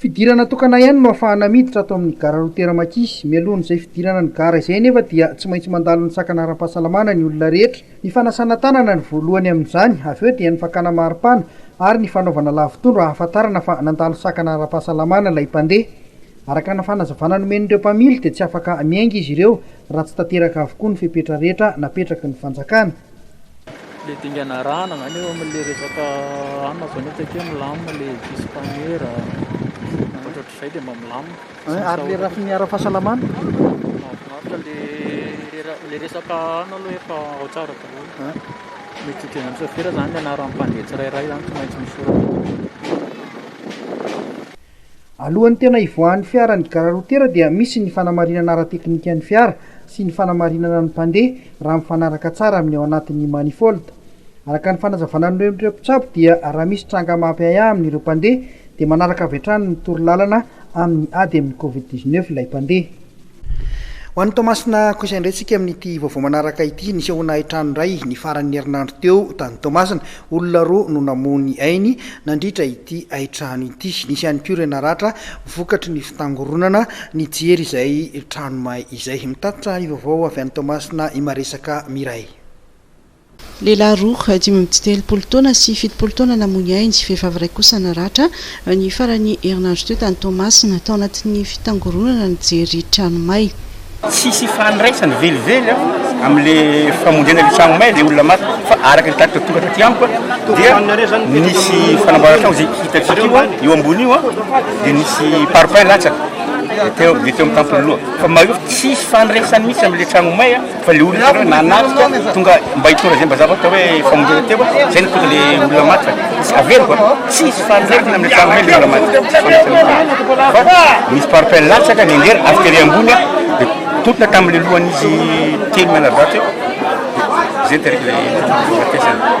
Fidirana tokana ihany no afahana miditra ato amin'ny Gare routière Makis. Mialohan'izay fidirana ny gara izay anefa dia tsy maintsy mandalo ny sakana ara-pahasalamana ny olona rehetra. Ny fanasana tanana no voalohany amin'izany, avy eo dia ny fakana maripana ary ny fanaovana lavotondro ahafantarana fa nandalo sakana ara-pahasalamana ilay mpandeha. Araka ny fanazavana nomen'ireo mpamily dia tsy afaka miainga izy ireo raha tsy tanteraka avokoa ny fepetra rehetra napetraky ny fanjakana. Ilay dingana arahana izany eo amin'ilay resaka anona izany ohatra hoe milamina ilay dispaniera, ohatrohatr'izay dia mba milamina. Eh, ary ilay rafin'ny ara-pahasalamana? Mahafinaritra ilay ilay resaka anona aloha efa ao tsara daholo. Eh? Mety hitovy amin'ny sôfera izany ny anaran'ny mpandeha tsirairay izany tsy maintsy misoratra. Alohan'ny tena hivoahan'ny fiara ny gara rotera dia misy ny fanamarinana ara-teknikan'ny fiara sy ny fanamarinana ny mpandeha raha mifanaraka tsara amin'ny ao anatin'ny manifold. Araka ny fanazavana noren'ireo mpitsabo dia raha misy tranga mampiahiahy amin'ireo mpandeha dia manaraka avy hatrany ny toro lalana amin'ny ady amin'ny covid dix-neuf ilay mpandeha. Ho an'i Toamasina kosa indray tsika amin'ity vaovao manaraka ity, nisehoana hain-trano indray ny faran'ny herinandro teo tany Toamasina. Olona roa no namoha ny ainy nandritra ity hain-trano ity. Nisy ihany koa ireo naratra vokatry ny fitangoronana nijery izay trano may izay. Mitatitra ny vaovao avy any Toamasina i Maresaka Miray. Lehilahy roa, dimy amby telopolo taona sy fitopolo taona namoy ainy, vehivavy iray kosa naratra, ny faran'ny herinandro teo tany Toamasina, tao anatin'ny fitangoronana nijery trano may. Tsisy ifandraisany velively amin'le famondrena le tragno may le olona maty fa araka ny tatitra tonga taty amiko dia nisy fanamboaran-tragno ze hitantsika io eo ambony io dia nisy parpaing latsaka dia teo amin'ny tampon'ny loha fa mahefa tsisy ifandraisany mihitsy amin'le tragno may. Fa le olona avy nanatrika tonga mba hitondra zay mba zavatra hoe famonjena teo a, zay nitonda le olona maty fa tsy averiko a, tsisy fahaverina amle tragno hoe le olona maty, tsisy fahaverina fa nisy pare-pelle latsaka nenjera avy tery ambony a, de totona tamle lohan'izy telo mianadahy teo, de zay ny tarik'le nahafatesan'le.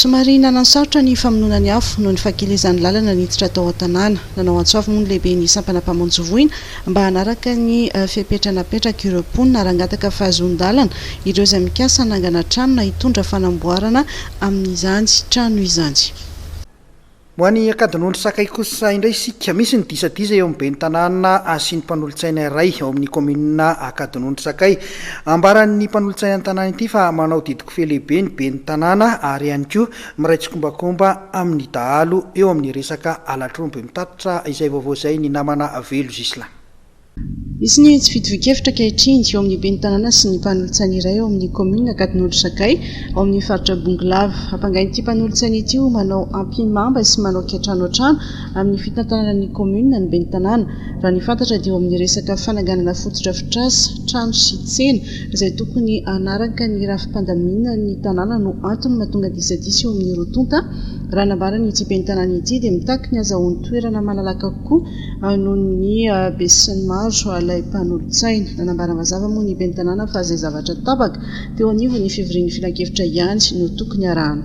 Somary nanan-sarotra ny famonoana ny afo noho ny fakilizan'ny lalana niditra tao an-tanàna. Nanao antso avo moa ny lehiben'ny sampana mpamonjy voina mba hanaraka ny fepetra napetrak'ireo mponina ary hangataka fahazoan-dalana ireo izay mikasa hanangana trano na hitondra fanamboarana amin'izany trano izany. Ho an'i Ankadinondry Sakay kosa indray isika, misy ny disadisa eo amin'ny ben'ny tanàna sy ny mpanolotsaina iray ao amin'ny kaominina Ankadinondry Sakay. Ambaran'ny mpanolotsainan'ny tanàna ity fa manao didikofehy lehibe ny ben'ny tanàna ary ihany koa miray tsikombakomba amin'ny dahalo eo amin'ny resaka halatr'omby. Mitatitra izay vaovao izay ny namana Velo Zisla. Nisy ny tsy fitovian-kevitra ankehitriny eo amin'ny ben'ny tanàna sy ny mpanolotsaina iray ao amin'ny kaominina Ankadinondry Sakay ao amin'ny faritra Bongolava. Ampangain'ity mpanolotsaina ity ho manao ampihimamba sy manao kiantrano hatrany amin'ny fitantanana ny kaominina ny ben'ny tanàna. Raha ny fantatra dia eo amin'ny resaka fananganana fotodrafitrasa, trano sy tsena izay tokony hanaraka ny rafi-pandaminana ny tanàna no antony mahatonga disadisa eo amin'ny roa tonta. Raha nambaran'ity ben'ny tanàna ity dia mitaky ny hazahoany toerana malalaka kokoa anon'ny besinimaro ilay mpanolotsaina. Nanambara mazava moa ny ben'ny tanàna fa izay zavatra tapaka teo anivon'ny fivorian'ny filankevitra ihany no tokony arahana.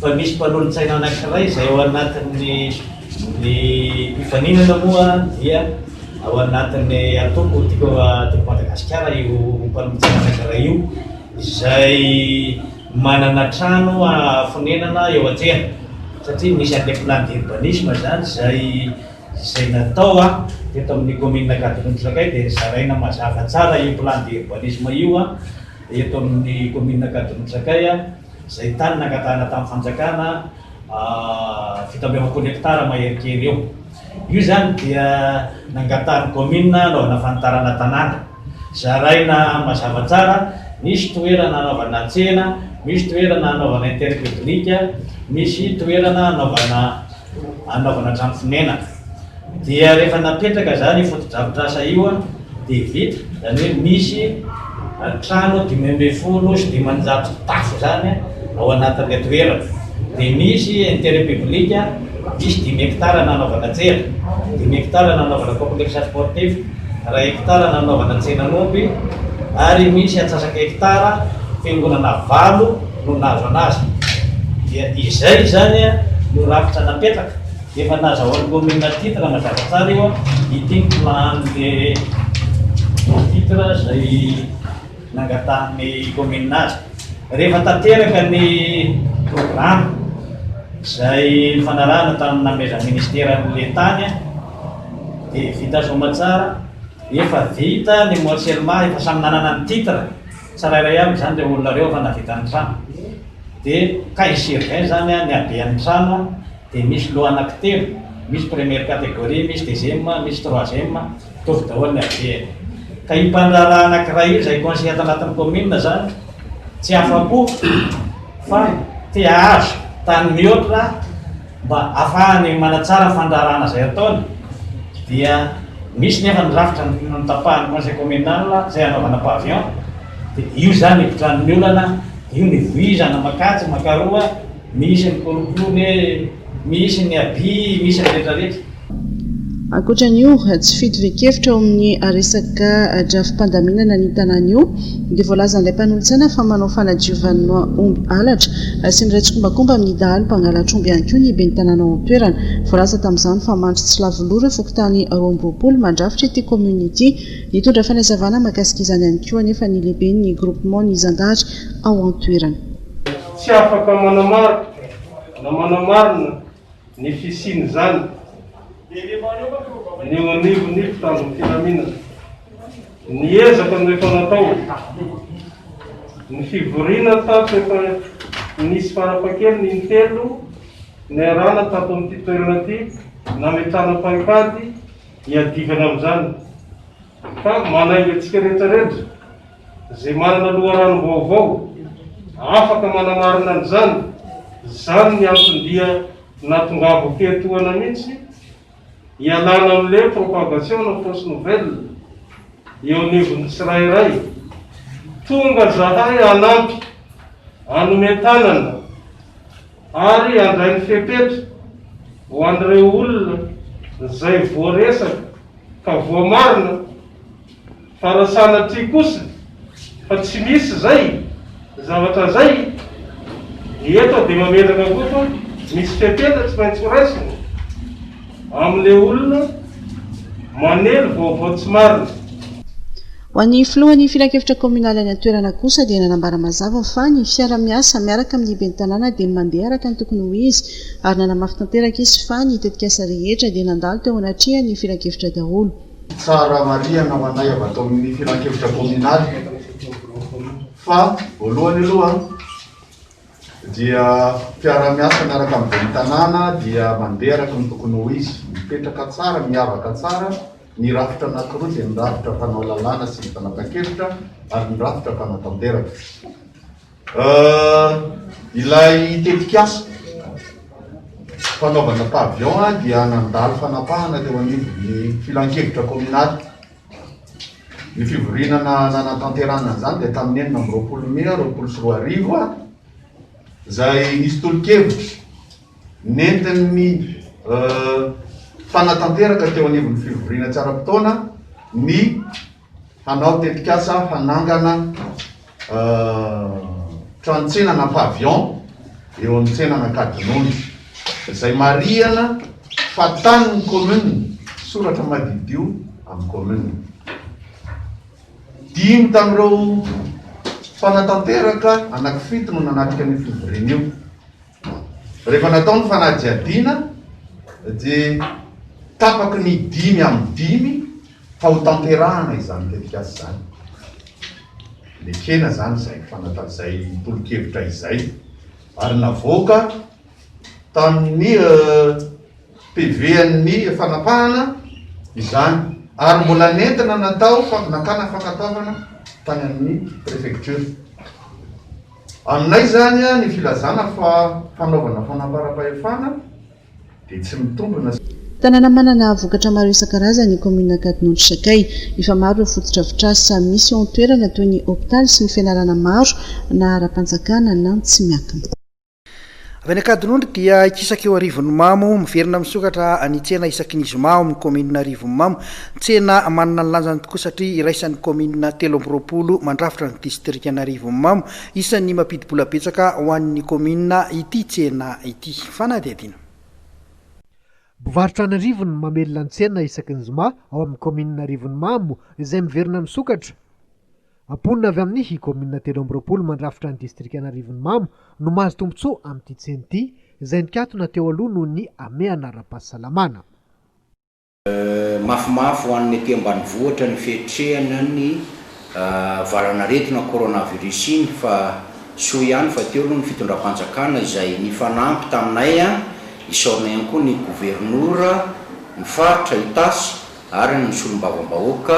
Fa misy mpanolotsaina anankiray izay ao anatin'ny ny mpifaninana moa dia ao anatin'ny antoko Tiako Madagasikara io mpanolotsaina anankiray io. izay manana trano fonenana eo an-tsena satria misy an'ilay plan d'urbanisme izany izay izay natao a teto amin'ny commune Ankadinondry Sakay dia zaraina mazava tsara io plan d'urbanisme io a eto amin'ny commune Ankadinondry Sakay a izay tany nangatahana tamin'ny fanjakana fito amby efapolo hectare mahery kely eo io izany dia nangatahan'ny commune anaovana fanitarana tanàna Zaraina mazava tsara, misy toerana anaovana tsena, misy toerana anaovana interet publique, misy toerana anaovana anaovana trano fonenana. Dia rehefa napetraka izany io fotodrafitrasa io dia vita, izany hoe misy trano dimy ambin'ny folo sy dimanjato tafo izany ao anatin'ilay toerana. dia misy intérêt public diso dimy hectares nanaovana tsena, dimy hectares nanaovana complexe sportif, iray hectare nanaovana tsenan'omby ary misy antsasaka hectare fiangonana valo no nahazo anazy dia izay izany no rafitra napetraka efa nazahoan'ny commune titre mazava tsara io an, ity ny plan an'le titre izay. nangatahan'ny kaominina azy. Rehefa tanteraka ny programa izay nifanarahana tamin'ny namezan'ny minisitera an'ilay tany dia vita soamantsara, efa vita ny morcellement, efa samy nanana ny titre tsirairay avy izany ireo olona ireo efa nahavita ny trano. Dia cas sur 20 izany ny haben'ny trano. Dia misy loha anaky telo, misy première catégorie, misy deuxième, misy troisième, mitovy daholo ny habeny. Ka io mpandraharaha anakiray io izay conseiller ato anatin'ny commune izany tsy afa-po fa te hahazo tany mihoatra mba hahafahany manatsara ny fandraharahana izay ataony dia misy nefa ny rafitra notapahan'ny conseil communal izay hanaovana pavillon dia io izany ipotran'ny olana dia io ny voizana makatsy makaroa Misy ny kolokolo e, misy ny aby, misy ny retraretra. Ankoatra an'io, tsy fito ve-kevitra ao amin'ny resaka drafi-pandaminana ny tanàna io dia voalazan'ilay mpanolotsaina fa manao fanadiovana omby halatra sy miray tsikombakomba amin'ny dahalo mpangalatra omby ihany koa ny ben'ny tanàna ao an-toerana. Voalaza tamin'izany fa mandry tsy lavo loha ireo fokontany roa amby roapolo mandrafitra ity kaominina ity. Nitondra fanazavana mahakasika izany ihany koa anefa ny lehiben'ny groupement ny zandary ao an-toerana. Tsy afaka manamarika na manamarina ny fisian'izany ny eo anivon'ny mpitandro ny filaminana. Ny ezaka no efa natao. Ny fivoriana tato efa nisy farafahakeliny in-telo niarahana tato amin'ity toerana ity nametrahana paikady hiadivana amin'izany ka manainga antsika rehetra rehetra. izay manana loharanom-baovao afaka manamarina an'izany, izany ny antony dia natongavako teo etoana mihitsy hialana amin'ilay propagation na fausse nouvelle eo anivon'ny tsirairay. Tonga zahay hanampy, hanome tanana ary handray ny fepetra ho an'ireo olona izay voaresaka ka voamarina, Fa raha sanatria kosa fa tsy misy izay zavatra izay, dia eto aho dia mametraka koa fa misy fepetra tsy maintsy horaisina amin'ilay olona manely vaovao tsy marina. Ho an'ny filohan'ny filankevitra kaominaly any an-toerana kosa dia nanambara mazava fa ny fiara-miasa miaraka amin'ny ben'ny tanàna dia mandeha araka ny tokony ho izy ary nanamafy tanteraka izy fa ny tetikasa rehetra dia nandalo teo anatrehan'ny filankevitra daholo. Tsara marihana ho anay avy ato amin'ny Filankevitra Kaominaly fa voalohany aloha dia mpiara-miasa miaraka amin'ny Ben'ny Tanàna dia mandeha araka ny tokony ho izy, mipetraka tsara, miavaka tsara, ny rafitra anankiroa dia ny rafitra mpanao lalàna sy ny fanapahan-kevitra ary ny rafitra mpanatanteraka. Ilay tetikasa fanaovana pavillon dia nandalo fanapahana teo anivon'ny filankevitra kominaly. Ny fivoriana nanatanterahana an'izany dia tamin'ny enina amby roapolo mey roapolo sy roa arivo izay nisy tolo-kevitra nentin'ny mpanatanteraka teo anivon'ny fivoriana tsy ara-potoana ny hanao tetikasa hanangana tranotsena na pavillon eo amin'ny tsenan'Ankadinondry izay marihana fa tanin'ny commune, soratra madiodio amin'ny commune. Dimy tamin'ireo mpanatanteraka anankifito no nanatrika an'io fivoriana io. Rehefa natao ny fanadihadiana dia tapaky ny dimy amin'ny dimy fa ho tanterahana izany tetikasa izany. Nekena izany izay fanata izay tolo-kevitra izay ary navoaka tamin'ny PV an'ny fanapahana izany ary mbola nentina natao nakana fankatoavana tany amin'ny prefecture. Aminay izany ny filazana fa fanaovana fanamparam-pahefana dia tsy mitombina. Tanàna manana vokatra maro isan-karazany ny kaominina Ankadinondry Sakay. Efa maro ireo fotodrafitrasa misy eo an-toerana toy ny hopitaly sy ny fianarana maro na ara-panjakana na tsy miankina. Avy any Ankadinondry dia ikisaka eo Arivonimamo, miverina misokatra ny tsena isaky ny zoma ao amin'ny kaominina Arivonimamo. Tsena manana ny lanjany tokoa satria iraisan'ny kaominina telo amby roapolo mandrafitra ny distrikan'Arivonimamo. Isan'ny mampidi-bola betsaka ho an'ny kaominina ity tsena ity. Fanadihadiana. Mpivarotra any an'arivony no mamelona ny tsena isaky ny zoma ao amin'ny kaominina Arivonimamo izay miverina misokatra. Mponina avy amin'ny kaominina telo amby roapolo mandrafitra ny distrikan'Arivonimamo no mahazo tombontsoa amin'ity tsena ity, izay nikatona teo aloha noho ny hamehana ara-pahasalamana. Mafimafy ho an'ny ety ambanivohitra ny fiatrehana ny valan'aretina coronavirus iny fa soa ihany fa teo aloha ny fitondram-panjakana izay nifanampy taminay, isaorana ihany koa ny governora, ny faritra, Itasy, ary ny solombavambahoaka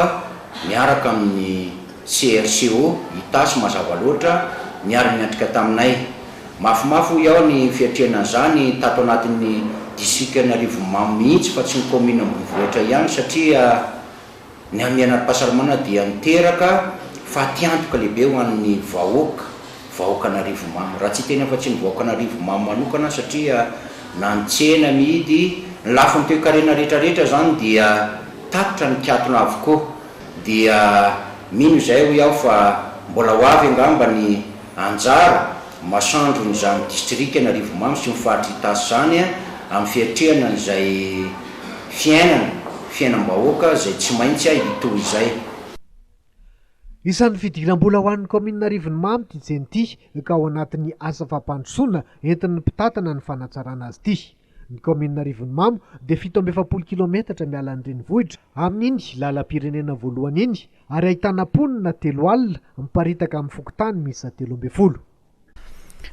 niaraka amin'ny CRCO, Itasy, mazava loatra, miara-miatrika taminay. Mafimafy hoy aho ny fiatrehana an'izany tato anatin'ny distrikan'i Arivonimamo mihitsy fa tsy ny kaominina ambonivohitra ihany satria ny hamian'ara-pahasalamana dia niteraka fatiantoka lehibe ho an'ny vahoaka. Vahoakan'Arivomamo. Raha tsy hiteny afa-tsy ny vahoakan'Arivomamo manokana satria na ny tsena mihidy, ny lafiny toekarena rehetra rehetra izany dia tatitra ny mpiatona avokoa. Dia mino izay hoy aho fa mbola ho avy angamba ny anjara masandron'izany distrikan'Arivomamo sy ny faritry Itasy izany amin'ny fiatrehana an'izay fiainana, fiainam-bahoaka izay tsy maintsy hitohy izay. Isan'ny fidiram-bola ho an'ny kaominina Arivonimamo ity tsena ity ka ao anatin'ny asa fampandrosoana entin'ny mpitantana ny fanatsarana azy ity. Ny kaominina Arivonimamo dia fito amby efapolo kilaometatra miala ny renivohitra amin'iny lalam-pirenena voalohany iny ary ahitana mponina telo alina miparitaka amin'ny fokontany miisa telo ambin'ny folo.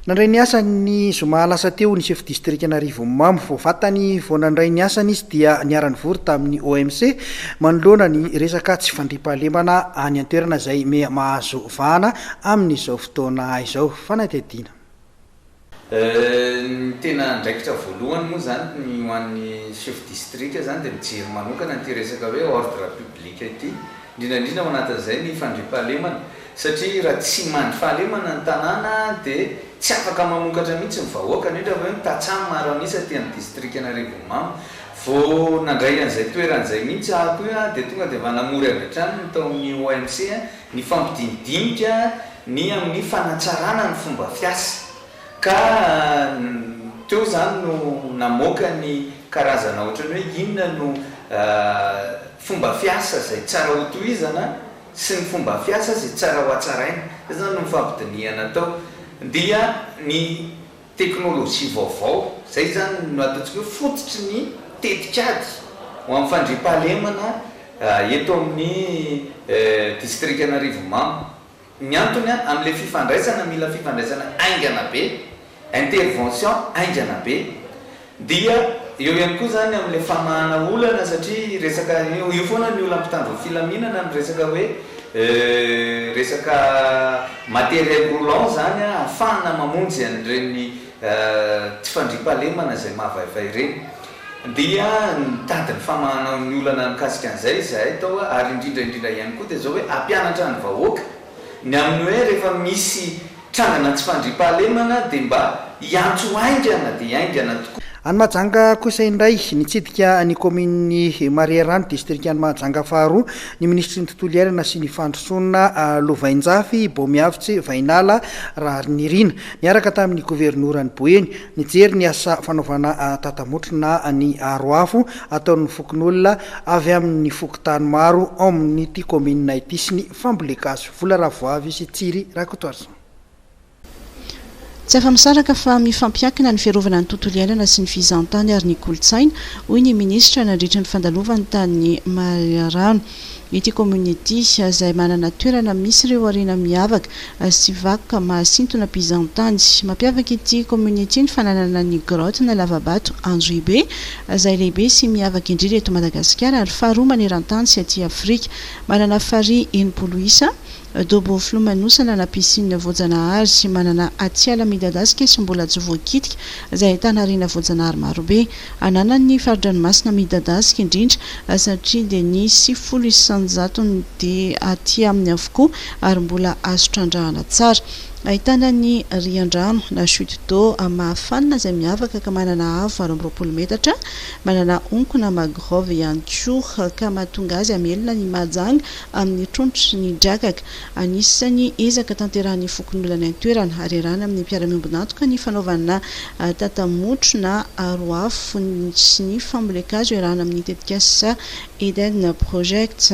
Nandray ny asany ny zoma lasa teo ny sefo distrikan'Arivonimamo. Vao vatany vao nandray ny asany izy dia niara-nivory tamin'ny OMC manoloana ny resaka tsy fandriampahalemana any an-toerana izay miha mahazo vahana amin'izao fotoana izao. Fanadihadiana. Ny tena andraikitra voalohany moa izany ny ho an'ny sefo distrika izany dia mijery manokana an'ity resaka hoe ordre public ity, indrindra indrindra ao anatin'izay ny fandriampahalemana. Satria raha tsy mandry fahalemana ny tanàna dia tsy afaka mamokatra mihitsy ny vahoaka. Indrindra fa eo ny tantsaha maro an'isa aty amin'ny distrikan'Arivonimamo. Vao nandray an'izay toerana izay mihitsy aho koa dia tonga dia efa namory avy hatrany ny tao amin'ny OMC ny fampidinidinika ny amin'ny fanatsarana ny fomba fiasa. Ka teo izany no namoaka ny karazana ohatran'ny hoe inona no fomba fiasa izay tsara hotohizana. sy ny fomba fiasa izay tsara hohatsaraina, izay izany no nifampidinihana tao, dia ny teknolojia vaovao, izay izany no ataontsika hoe fototry ny tetikady ho amin'ny fandriampahalemana eto amin'ny distrikan'Arivonimamo. Ny antony amin'ilay fifandraisana, mila fifandraisana haingana be Intervention haingana be. Dia eo ihany koa izany amin'ilay famahana olana satria resaka, io foana ny olan'ny mpitandron'ny filaminana ny resaka hoe resaka matériel roulant izany ahafahana mamonjy an'ireny tsy fandriampahalemana izay mahavaivay ireny. Dia nitady ny famahana ny olana mikasika an'izay izahay tao ary indrindra indrindra ihany koa dia izao hoe hampianatra ny vahoaka. Ny amin'ny hoe rehefa misy trangana tsy fandriampahalemana dia mba hiantso haingana dia haingana tokoa. Any Mahajanga kosa indray, nitsidika ny kaominin'i Marearano, distrikan'i Mahajanga faharoa, ny minisitry ny Tontolo iainana sy ny fandrosoana lovainjafy, Bomiavotse Vahinala Raharinirina, niaraka tamin'ny governoran'i Boeny, nijery ny asa fanaovana tatamotrona ny aro afo ataon'ny fokonolona avy amin'ny fokontany maro ao amin'ity kaominina ity sy ny Famboly gasy vola ravoavy sy Thierry Rakotoarison. Tsy afa-misaraka fa mifampiankina ny fiarovana ny tontolo iainana sy ny fizahantany ary ny kolontsaina, hoy ny minisitra nandritra ny fandalovany tany Marirano ity kaominina ity, izay manana toerana misy ireo harena miavaka sy vakoka mahasintona mpizahantany. Mampiavaka ity kaominina ity ny fananana ny grotte na lavabato Androhibe, izay lehibe sy miavaka indrindra eto Madagasikara ary faharoa maneran-tany sy aty Afrika. Manana farihy enimpolo isa, dobo filomanosana na piscine voajanahary sy manana atiala midadasika sy mbola tsy voakitika izay ahitana harena voajanahary marobe. Ananany ny fari-dranomasina midadasika indrindra satria dia ny sivifolo isanjatony dia aty aminy avokoa ary mbola azo trandrahana tsara. Ahitana ny riandrano na chute d'eau mahafanina izay miavaka ka manana avo valo amby roapolo metatra Manana onkona magrove ihany koa, ka mahatonga azy hamelona ny mahajanga amin'ny trondro ny drakaka. Anisan'ny ezaka tanterahin'ny fokonolona any an-toerana, ary iarahana amin'ny mpiara-miombon'antoka ny fanaovana tata-motro na aro afo sy ny fambolen-kazo iarahana amin'ny tetikasa Eden Project.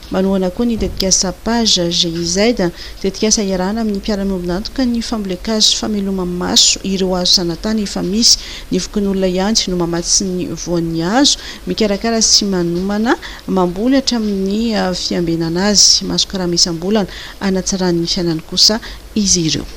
Manohana koa ny tetikasa Page GIZ, tetikasa iarahana amin'ny mpiara-miombon'antoka ny fambolen-kazo fameloma-maso ireo hazo zanatany efa misy. Ny fokonolona ihany no mamatsy ny voan'ny hazo, mikarakara sy manomana, mamboly hatramin'ny fiambenana azy. Mahazo karama isam-bolana hanatsarany ny fiainany kosa izy ireo.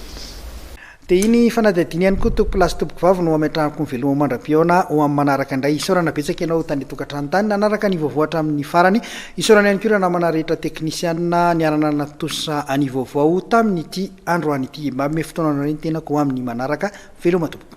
Dia iny fanadihadiana ihany koa tompoko lahy sy tompoko vavy no hametrahako ny veloma mandra-pihaona ho amin'ny manaraka indray. Isaorana betsaka ianao tany tokantrano tany nanaraka ny vaovao hatramin'ny farany. Isaorana ihany koa ireo namana rehetra teknisianina niara-nanantosa ny vaovao tamin'ity androany ity. Mba hanome fotoana anareo ny tenako ho amin'ny manaraka. Veloma tompoko.